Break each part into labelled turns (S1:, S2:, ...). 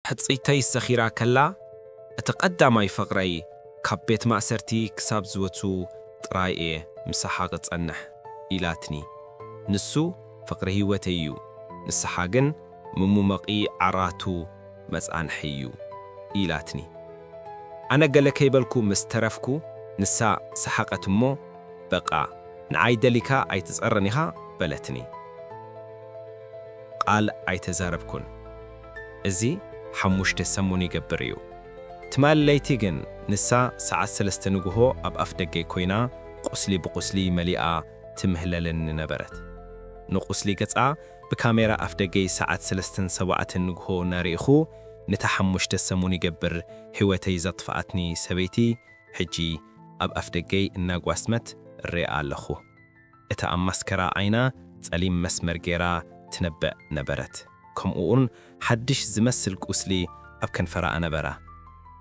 S1: ሕጽይተይ ሰኺራ ከላ እቲ ቀዳማይ ፍቕረይ ካብ ቤት ማእሰርቲ ክሳብ ዝወጹ ጥራይ እየ ምሳሓ ክጸንሕ ኢላትኒ። ንሱ ፍቕሪ ህይወተይ እዩ፣ ንሳሓ ግን ምሙመቒ ዓራቱ መጻንሒ እዩ ኢላትኒ። ኣነ ገለ ከይበልኩ ምስ ተረፍኩ ንሳ ሰሓቐት እሞ በቃ ንዓይ ደሊካ ኣይትጸረን ኢኻ በለትኒ። ቃል ኣይተዛረብኩን። እዚ ሓሙሽተ ሰሙን ይገብር እዩ። ትማሊ ለይቲ ግን ንሳ ሰዓት ሰለስተ ንጉሆ ኣብ ኣፍደገይ ኮይና ቁስሊ ብቁስሊ መሊኣ ትምህለለኒ ነበረት። ንቁስሊ ገጻ ብካሜራ ኣፍደገይ ሰዓት ሰለስተን ሰባኣትን ንጉሆ እናርኢኹ ንታ ሓሙሽተ ሰሙን ይገብር ህይወተይ ዘጥፈኣትኒ ሰበይቲ ሕጂ ኣብ ኣፍደገይ እናጓስመት እርእያ ኣለኹ። እታ ኣብ ማስከራ ዓይና ጸሊም መስመር ገይራ ትነብዕ ነበረት፣ ከምኡ'ውን ሓድሽ ዝመስል ቁስሊ ኣብ ከንፈራ ኣነበራ።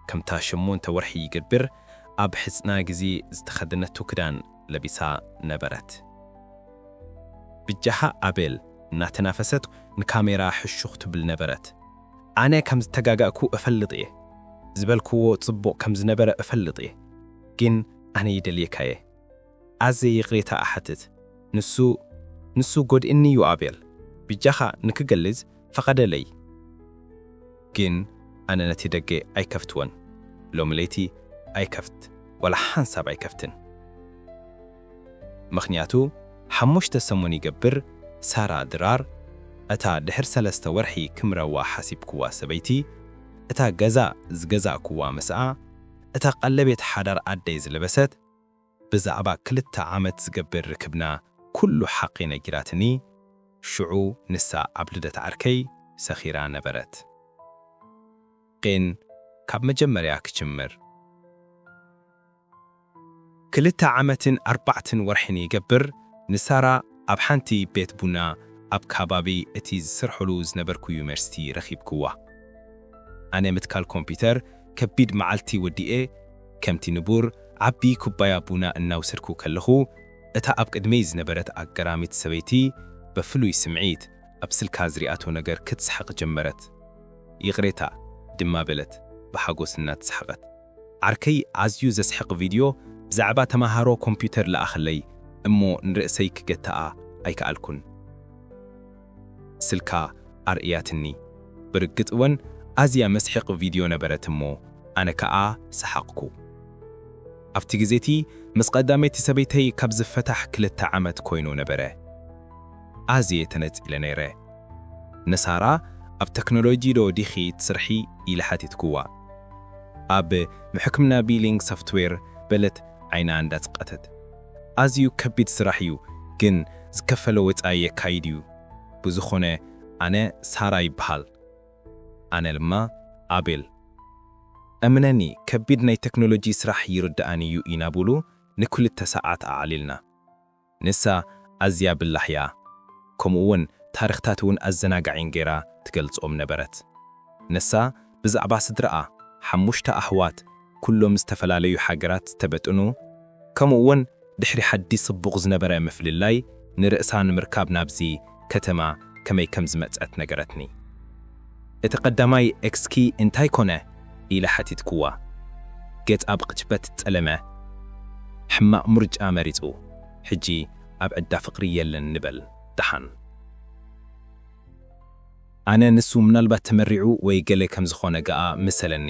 S1: ከምታ ሸሞንተ ወርሒ ይገብር ኣብ ሕጽና ግዚ ዝተኸደነቶ ክዳን ለቢሳ ነበረት። ብጃኻ ኣቤል እናተናፈሰት ንካሜራ ሕሹኽ ትብል ነበረት። ኣነ ከም ዝተጋጋእኩ እፈልጥ'የ። ዝበልክዎ ጽቡቕ ከም ዝነበረ እፈልጥ'የ። ግን ኣነ ይደልየካ'የ። ኣዜ ይቅሬታ እሓትት ንሱ ንሱ ጎድእኒ ዩ ኣቤል ብጃኻ ንክገልዝ ፈቀደለይ ግን ኣነ ነቲ ደገ ኣይከፍትዎን ሎሚ ለይቲ ኣይከፍት ዋላ ሓንሳብ ኣይከፍትን ምኽንያቱ ሓሙሽተ ሰሙን ይገብር ሳራ ድራር እታ ድሕር ሰለስተ ወርሒ ክምረዋ ሓሲብክዋ ሰበይቲ እታ ገዛ ዝገዛእክዋ ምስኣ እታ ቀለቤት ሓዳር ኣደይ ዝለበሰት ብዛዕባ ክልተ ዓመት ዝገብር ርክብና ኩሉ ሓቒ ነጊራትኒ፣ ሽዑ ንሳ ኣብ ልደት ዓርከይ ሰኺራ ነበረት። ን ካብ መጀመርያ ክጅምር። ክልተ ዓመትን ኣርባዕትን ወርሒን ይገብር ንሳራ። ኣብ ሓንቲ ቤት ቡና ኣብ ካባቢ እቲ ዝሰርሖሉ ዝነበርኩ ዩኒቨርሲቲ ረኺብክዋ። ኣነ ምትካል ኮምፒተር ከቢድ መዓልቲ ወዲኤ ከምቲ ንቡር ዓቢ ኩባያ ቡና እናውሰድኩ ከለኹ እታ ኣብ ቅድመይ ዝነበረት ኣገራሚት ሰበይቲ በፍሉይ ስምዒት ኣብ ስልካ ዝሪኣቶ ነገር ክትስሕቕ ጀመረት። ይቕሬታ ድማ በለት ብሓጎስ እናተሳሕቐት። ዓርከይ ኣዝዩ ዘስሕቅ ቪድዮ ብዛዕባ ተማሃሮ ኮምፒውተር ለኣኸለይ እሞ ንርእሰይ ክገትኣ ኣይከኣልኩን ስልካ ኣርእያትኒ ብርግጽ ወን ኣዝያ መስሕቅ ቪድዮ ነበረት እሞ ኣነ ከኣ ሰሓቅኩ ኣብቲ ግዜቲ ምስ ቀዳመይቲ ሰበይተይ ካብ ዝፈታሕ ክልተ ዓመት ኮይኑ ነበረ ኣዝየ ተነጺለ ነይረ ንሳራ ኣብ ተክኖሎጂ ዶ ዲኺ ትስርሒ ኢለ ሓቲትክዋ። ኣብ ምሕክምና ቢሊንግ ሶፍትዌር በለት ዓይና እንዳጽቀተት። ኣዝዩ ከቢድ ስራሕ እዩ ግን ዝከፈለ ወጻኢ የካይድ እዩ ብዝኮነ ኣነ ሳራ ይብሃል ኣነ ልማ ኣቤል እምነኒ ከቢድ ናይ ተክኖሎጂ ስራሕ ይርድኣኒ እዩ ኢና ቡሉ ንክልተ ሳዓት ኣዕሊልና ንሳ ኣዝያ ብላሕ'ያ፣ ከምኡ'ውን ታሪኽታት'ውን ኣዘናጋዒን ገይራ ትገልጾም ነበረት። ንሳ ብዛዕባ ስድራኣ፣ ሓሙሽተ ኣሕዋት ኩሎም ዝተፈላለዩ ሃገራት ዝተበጥኑ፣ ከምኡ'ውን ድሕሪ ሓዲ ጽቡቕ ዝነበረ ምፍልላይ ንርእሳ ንምርካብ ናብዚ ከተማ ከመይ ከም ዝመጸት ነገረትኒ። እቲ ቀዳማይ ኤክስኪ እንታይ ኮነ? ኢለ ሓቲትኩዋ። ገጻ ብቕጭበት ጸለመ። ሕማቕ ምርጫ መሪጹ። ሕጂ ኣብ ዕዳ ፍቕሪ የለን ንበል ደሓን። ኣነ ንሱ ምናልባት ተመሪዑ ወይ ገለ ከም ዝኾነ ገኣ መሰለኒ።